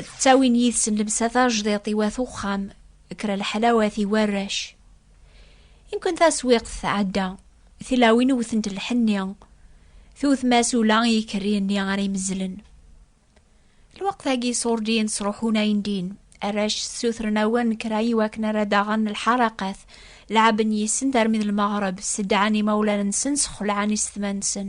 ttawin yid-sen lemsa tajdiḍt i wat uxxam kra leḥlawat i warrac inkun taswiqt tɛedda tilawin wtent lḥenni tewt masula i ikerri-nni ara imezzlen lweqt-agi ṣurdin sruḥun ayen din arrac ssutren awen kra i wakken ara daɣen lḥaraqat lɛaben yis-sen termi d lmeɣreb seddɛan imawlan-nsen sxelɛan isetma-nsen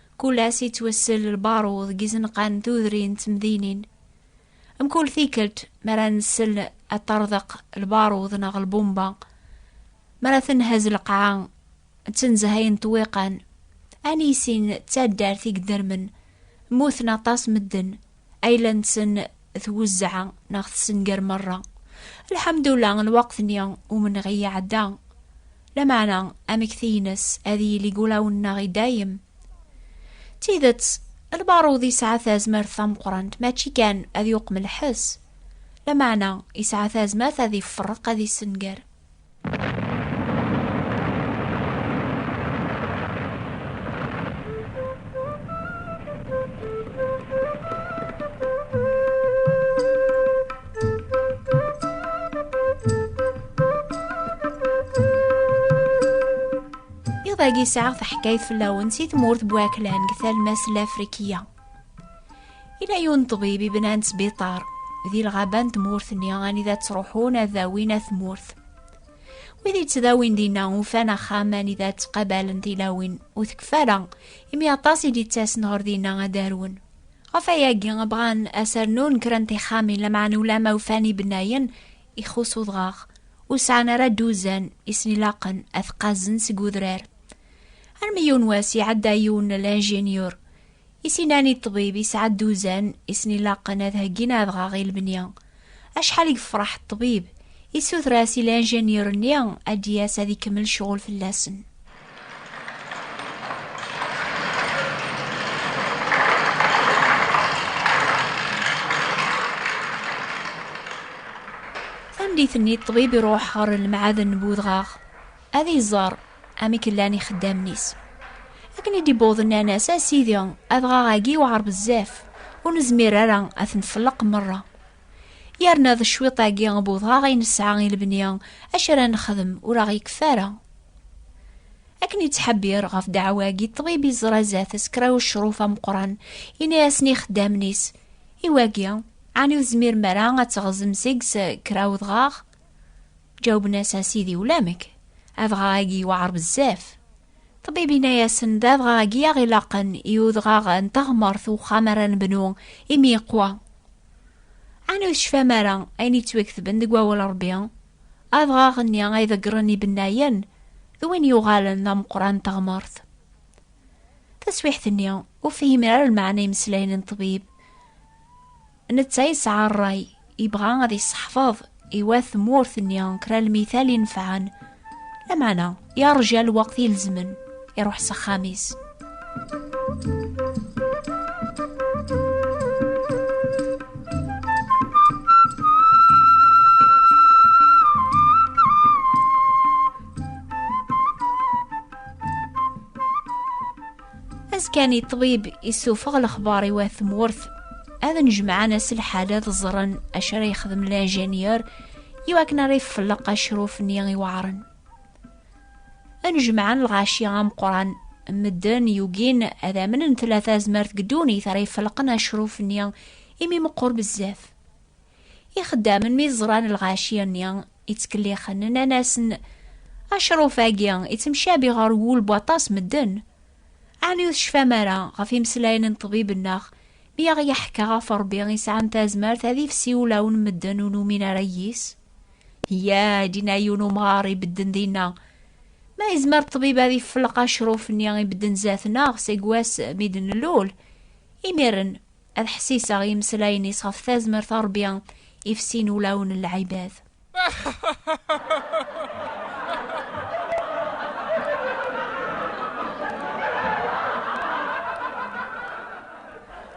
Kul ass yettwassel lbaruḍ deg izenqan tudrin d temdinin. Mkul tikkelt mi ara nsel ad ṭṭerḍeq lbaruḍ neɣ lbumba, mi ara tenhaz lqaɛa d tenzahay n ṭṭwiqan, ani sin d taddart i yeddermen, mmuten aṭas medden, ayla-nsen twezzeɛ neɣ tessenger merra lḥamdullah lweqt-nni umenɣi iɛedda lameɛna amekti-ines ad yili gulaw-nneɣ i dayem d tidet lbaruḍ yesɛa tazmert tameqrant mačči kan ad yuqem lḥess lameɛna yesɛa tazmert ad iferreq ad issenger Iḍ-agi yesɛa taḥkayt fell-awen si tmurt n Waklan deg talmas lafrikiya. I la yun ṭbib i bnan sbiṭar di lɣaba n tmurt-nni anida ttruḥun ad dawin at tmurt. Wid yettdawin dinna ufan axxam anida ttqabalen tilawin ur tekfa ara imi aṭas i d-ittasen ɣer dinna ad arwen. Ɣef ayagi bɣan asernun kra n tixxamin lameɛna ulama ufan ibennayen ixus udɣaɣ ur sɛan ara d-uzan i sen-ilaqen ad qqazen seg udrar. Armi yiwen wass iɛedda yiwen n l-injiniyur I s-innan i ṭṭbib yesɛa dduzan i sen-ilaqen ad heggin adɣaɣ i lebni. Acḥal i yefreḥ ṭṭbib, yessuter-as i lanjanyur-nni ad d-yas ad ikemmel ccɣel fell-asen. Tameddit-nni ṭṭbib iruḥ ɣer lemɛaden n wudɣaɣ. ad iẓer amek llan ixeddamen-is. Akken i d-iwweḍ nnan-as, a Sidi, adɣaɣ-agi yewɛer bezzaf, ur nezmir ara ad t-nfelleq merra. Yerna d cwiṭ-agi n udɣaɣ i nesɛa i lebni, acu ara nexdem ur aɣ-yekfi ara. Akken yettḥebbir ɣef ddeɛwa-agi, ṭṭbib yeẓra zdat-s kra n ucruf ameqqran, yenna-asen i ixeddamen-is, I wagi, ɛni ur tezmirem ara ad teɣzem seg-s kra n udɣaɣ? Ǧawben-as a sidi ulamek, adɣaɣ-agi yewɛer bezzaf. Ṭbib yenna-yasen d adɣaɣ-agi aɣ ilaqen i udɣaɣ n teɣmert uxxam ara nebnu imi yeqwa. Ɛni ur tecfam ara ayen yettwaktben deg wawal Ṛebbi? Adɣaɣ-nni ay ḍeggren ibennayen d win yuɣalen d ameqran n teɣmert. Taswiḥt-nni, ur fhimen ara lmeɛna imeslayen n ṭbib. Netta yesɛa ṛṛay, yebɣa ad yesseḥfeḍ i wat tmurt-nni kra lmital inefɛen, lameɛna yeṛja lweqt ilezmen, iṛuḥ s axxam-is. Azekani ṭṭbib isufeɣ lexbar i wat tmurt ad nejmeɛen aselḥal ad ẓren acu ara yexdem linjinyer i wakken ara ifelleq acruf-nni iweɛren. Ad nejmeɛen lɣaci ameqran medden yugin ad amnen tlata azmert deg ddunit ara ifelqen acruf-nni imi meqqur bezzaf. Ixeddamen mi ẓran lɣaci-nni yettkellixen, nnan-asen, Acruf-agi yettemcabi ɣer wul n waṭas medden. Ɛni ur tecfam ara ɣef imeslayen n ṭṭbib-nneɣ mi aɣ-yeḥka ɣef Ṛebbi yesɛan tazmert ad ifsi ulawen medden ur numin ara yis? Ya, dinna yiwen umɣar ibedden dinna. Ma yezmer ṭṭbib ad ifelleq acruf-nni ibedden zdat-neɣ seg wass mi d-nlul, imiren ad ḥsiseɣ imeslayen-is ɣef tazmert Ṛebbi ifsin ulawen n lɛibad.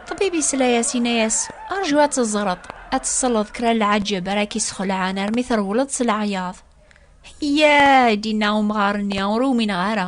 Ṭbib isla-yas inna-yas, rju ad teẓreḍ, ad tesleḍ kra n lɛaǧeb ara k-isxelɛen armi trewleḍ s leɛyaḍ. Yyaa, i d-inna umɣar-nni, ur umineɣ ara.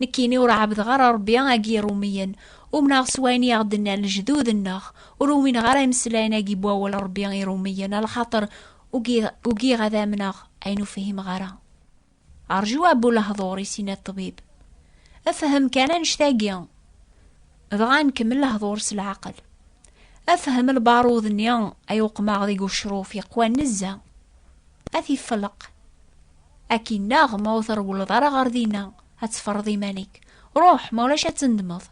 Nekkini ur ɛabdeɣ ara Rebbi agi Iṛumiyen, umneɣ s wayen i aɣ-d-nnan lejdud-nneɣ, ur umineɣ ara imeslayen-agi n wawal n Rebbi i Iṛumiyen, a lxaṭer ugiɣ ad amneɣ ayen ur fhimeɣ ara. Rju a bu lehḍur, i sin a ṭṭbib. Fhem kan annect-agi, dɣa nkemmel lehḍur s leɛqel. Fhem lbarud-nni ay uqmeɣ deg ucruf yeqwan nezzeh, ad t-ifelleq Akinnaɣ ma ur trewleḍ ara ɣer dinna, ad teffreḍ iman-ik. Ruḥ, ma ulac ad tendmeḍ.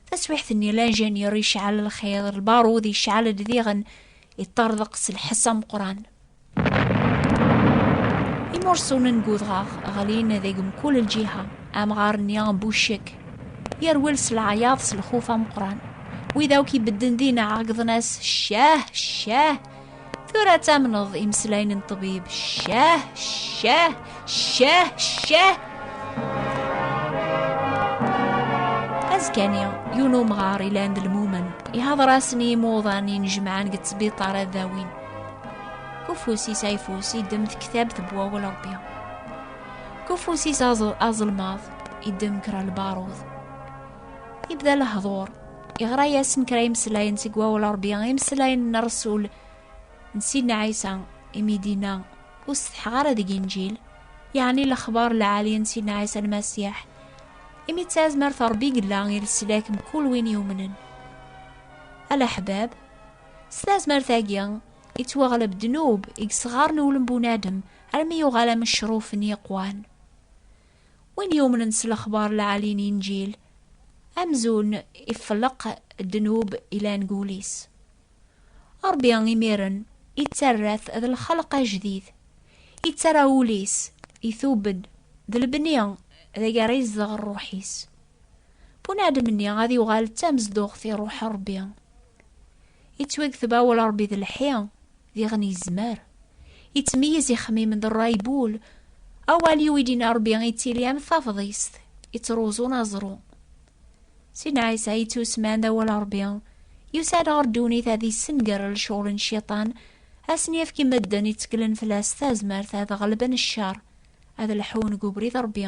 Taswiḥt-nni, lanjanyur yecɛel lxiḍ, lbarud yecɛel-d diɣen, yeṭṭerḍeq s lḥess ameqqran. Imursunen n udɣaɣ ɣlin deg mkul lǧiha. Amɣar-nni n Bucek yerwel s leɛyaḍ s lxuf ameqqran. Wid akk ibedden dinna ɛeggḍen-as, Ccah! Ccah! Tura ad tamneḍ imeslayen n ṭbib ccah ccah ccah ccah azekani yiwen umɣar ilan d lmumen ihadṛasen i yimuḍan inejmaɛen deg ttbiṭar ad dawin ufus-is ayfus idem tektabt n wawal ṛebbi kufus-is aẓelmaḍ idem kra lbaṛud ibda lehḍur Iɣra-yasen kra imeslayen seg wawal Ṛebbi, imeslayen n Ṛsul n Sidna Ɛisa imi d-inna ur setḥeɣ ara deg Inǧil, yeɛni lexbar lɛali n Sidna Ɛisa Lmasiḥ, imi d tazmert Ṛebbi yella i leslak mkul win yumnen. Ala ḥbab, s tazmert-agi yettwaɣleb ddnub i yesɣaren ulem bunadem armi yuɣal am ccruf n yiqwan. Win yumnen s lexbar lɛali n Inǧil, amzun ifleq ddnub ilan deg wul-is. Ṛebbi imiren ittarra-t d lxelq ajdid, ittarra ul-is, itub-d, d lebni deg ara izdeɣ ṛṛuḥ-is. Bunadem-nni ad yuɣal d tamezduɣt i ṛṛuḥ n Ṛebbi. Yettwakteb awal Ṛebbi d lḥi, diɣen yezmer. Yettmeyyiz ixemmimen d ṛṛay n wul. Awal yuwi-d-yenna Ṛebbi yettili am tafḍist yettruẓun aẓru. Sidna Ɛisa yettusman d awal Ṛebbi, yusa-d ɣer ddunit ad yessenger lecɣal n Cciṭan, ad sen-yefk i medden yetteklen fell-as tazmert ad ɣelben cceṛ, ad lḥun deg ubrid n Ṛebbi.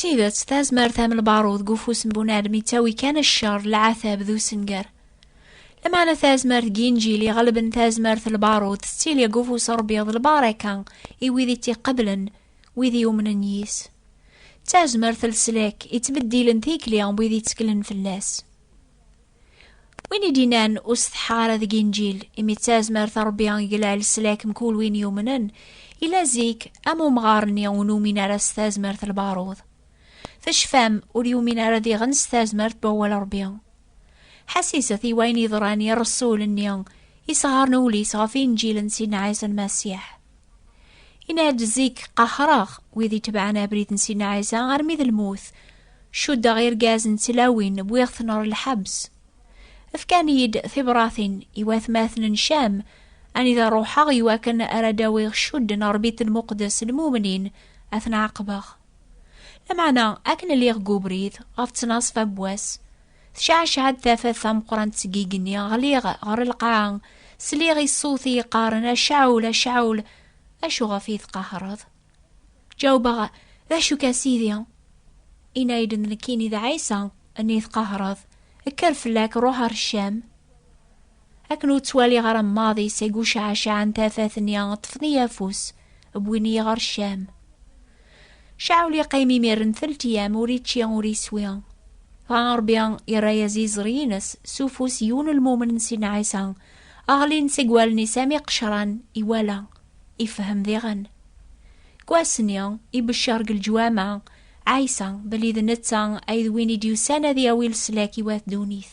Tidet, tazmert am lbaṛud deg ufus n bunadem yettawi kan ccer, leɛtab d usenger. Lameɛna tazmert deg yinjil iɣelben tazmert n lbaṛud tettili deg ufus n Ṛebbi d lbaṛaka i wid i tt-iqeblen, wid yumnen yis. D tazmert n leslak ittbeddilen tikli n wid yetteklen fell-as. win i d-inan ur setḥa ara deg inǧil imi d tazmert rebbi iglal s lak mkul win yumnen ila zik am umɣar-nni ur numin ara s tazmert lbaruḍ tecfam ur yumin ara diɣen s tazmert n wawal rebbi ḥasiset i wayen yeḍran i rresul-nni isɣaren ul-is ɣef inǧil n sidna ɛisa lmasiḥ Inna-d zik qahreɣ wid itebɛen abrid n Sina Ɛisa armi d lmut. Cuddeɣ irgazen d tlawin, wwiɣ-ten ɣer lḥebs. Fkan-iyi-d tibratin i watmaten n Cam, anida ruḥeɣ i wakken ara d-awiɣ cudd n Rebbi n Muqdes lmumnin, ad ten-ɛaqbeɣ. Lameɛna akken lliɣ deg ubrid, ɣef ttnaṣfa n wass, Tecɛecɛa-d tafat tameqqrant seg igenni, ɣliɣ ɣer lqaɛa, sliɣ i ṣṣut i yeqqaren a Caɛul, a Caɛul, acu ɣef i tqahreḍ? Ǧawbeɣ, d acu ka sidi? Inna-yi-d d nekkini d Ɛisa, nni tqahreḍ, kker fell-ak, ruḥ ar Ccam. Akken ur ttwaliɣ ara maḍi seg ucaɛcaɛen tafat-nni, ṭṭfen-iyi afus, wwin-iyi ɣer Ccam. Caɛul yeqqim imir n telt yam, ur ičči, ur iswi. Dɣa Ṛebbi irra-yas iẓri-ines s ufus yiwen lmumen n Sidna Ɛisa, ɣlin seg wallen-is am iqecran, iwala, ifehhem diɣen. Deg wass-nni, ibeccer deg leǧwama, Ɛisa, belli d netta ay d win i d-yusan ad yawi leslak i wat ddunit.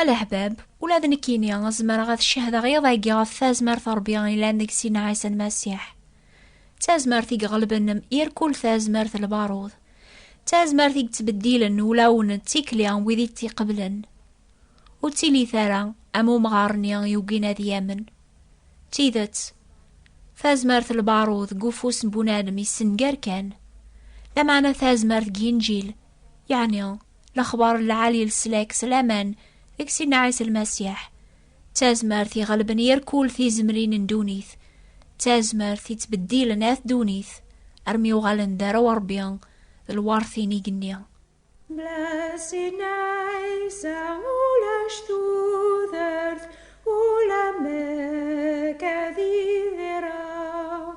Alaḥbab, ula d nekkini zemreɣ ad cehdeɣ iḍ-agi ɣef tazmert n Rebbi ilan deg Sina Ɛisa Lmasiḥ. D tazmert i iɣelben irkul tazmert lbarud. D tazmert i yettbeddilen ulawen d tikli n wid i tt-iqeblen. Ur ttilit ara am umɣar-nni yugin ad yamen. D tidet, tazmert lbarud deg ufus n bunadem yessenger kan. Lameɛna tazmert deg yinǧil Yeɛni, lexbar n lɛali leslak s laman deg Sidna Ɛisa Lmasiḥ, d tazmert iɣelben yir kul tizemlin n ddunit, d tazmert yettbeddilen at ddunit armi uɣalen d arraw n Rebbi d lweṛt-in igenni. Bla Sidna Ɛisa ulac tudert, ula mek ad idireɣ,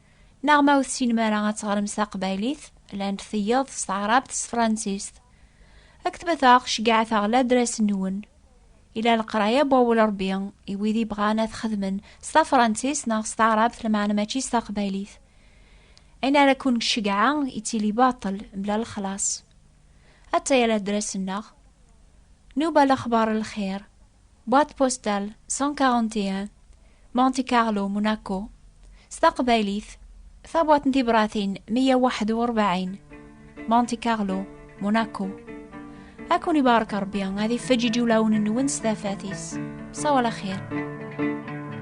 Neɣ ma ur tessinem ara ad teɣrem s taqbaylit, llant tiyaḍ s taɛrabt s tefransist. Ad k-tbataɣ ceggɛet-aɣ ladras-nwen. Ila leqraya n wawal Ṛebbi i wid yebɣan ad t-xedmen s tafransist neɣ s taɛrabt lmeɛna mačči s taqbaylit. Ayen ara ken-ceggɛeɣ yettili baṭel mebla lexlaṣ. Atta-ya ladras-nneɣ. Nuba lexbar n lxir. Boîte postale 141 Monte Carlo Monaco s taqbaylit tabwaṭ n tibratin 141 Monte Carlo Monaco ad ken ibarek Rebbi ad ifeǧǧ iǧulawen-nwen s tafat-is. Sawa laxir.